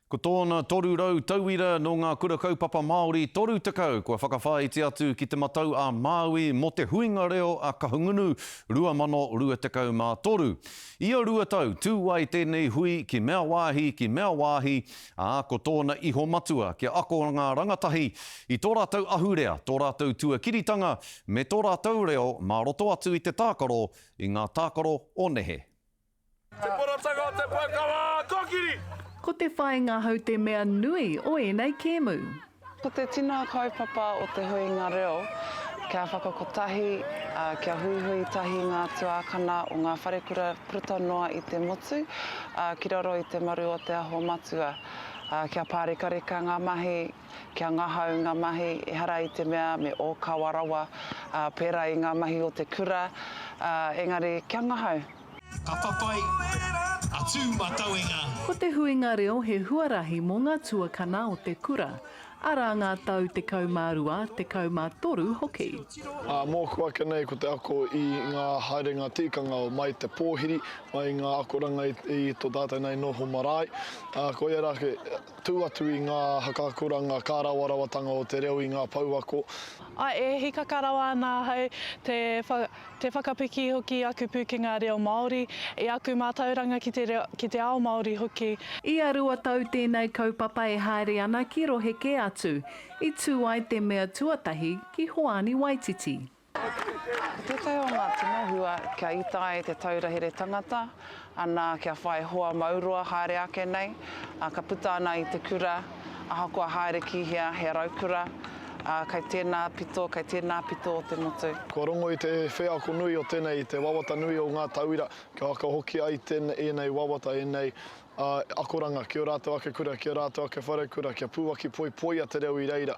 Ko tōna 300 tauira nō ngā Kura Kaupapa Māori 30 kua whakawhāiti atu ki Te Matau a Māui mō te Huinga Reo a Kahungunu 2023. Ia rua tau, tū ai tēnei hui ki mea wāhi, ki mea wāhi, ā, ko tōna iho matua kia ako ngā rangatahi i tō rātou ahurea, tō rātou tuakiritanga me tō rātou reo mā roto atu i te tākaro, i ngā tākaro o nehe. Te Poratanga o te Puakawa Kokiri! Ko te whāinga hou te mea nui o ēnei kēmu. Ko te tino kaupapa o te huinga reo kia whakakotahi, ā, kia huihui tahi ngā tuākana o ngā wharekura puta noa i te motu, ā, ki raro i te maru o Te Aho Matua, ā, kia pārekareka ngā mahi, kia ngahau ngā mahi, ehara i te mea me ōkawa rawa, ā, pērā i ngā mahi o te kura, ā, engari kia ngahau. Ka whawhai a Tū Matauenga. Ko te huinga reo he huarahi mō ngā tuakana o te kura, arā ngā tau tekau mā rua, tekau mā toru hoki. Mōku ake nei ko te ako i ngā haerenga tikanga o mai te pōhiri, mai ngā akoranga i tō tātou nei noho marae. Koia rā ake, tū atu i ngā haka akoranga kārawarawatanga o te reo i ngā pouako. I hikaka rawa ana ahau te. Te whakapiki hoki i aku pūkenga reo Māori, i aku mātauranga ki te reo, ki te ao Māori hoki. Ia rua tau tēnei kaupapa e haere ana ki rohe kē atu, i tū ai te mea tuatahi ki Hoani Waititi. Ko tētahi o ngā tino hua kia ita ai te taura here tangata, Ana kia whai hoa mauroa haere ake nei, ā, ka puta ana i te kura, ahakoa haere ki hea, he raukura, ā, kei tēnā pito, kei tēnā pito o te motu. Kua rongo i te wheako nui o tēnei i te wawata nui o ngā tauira, kia aka hoki ai tēnei, ēnei wawata, ēnei, ā, akoranga ki ō rātou ake kura, ki ō rātou ake wharekura, kia pūaki poipoia te reo i reira.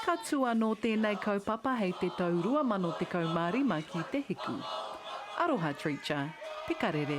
Ka tū anō tēnei kaupapa hei te tau 2015 ki te hiku. Aroha Treacher, te karere.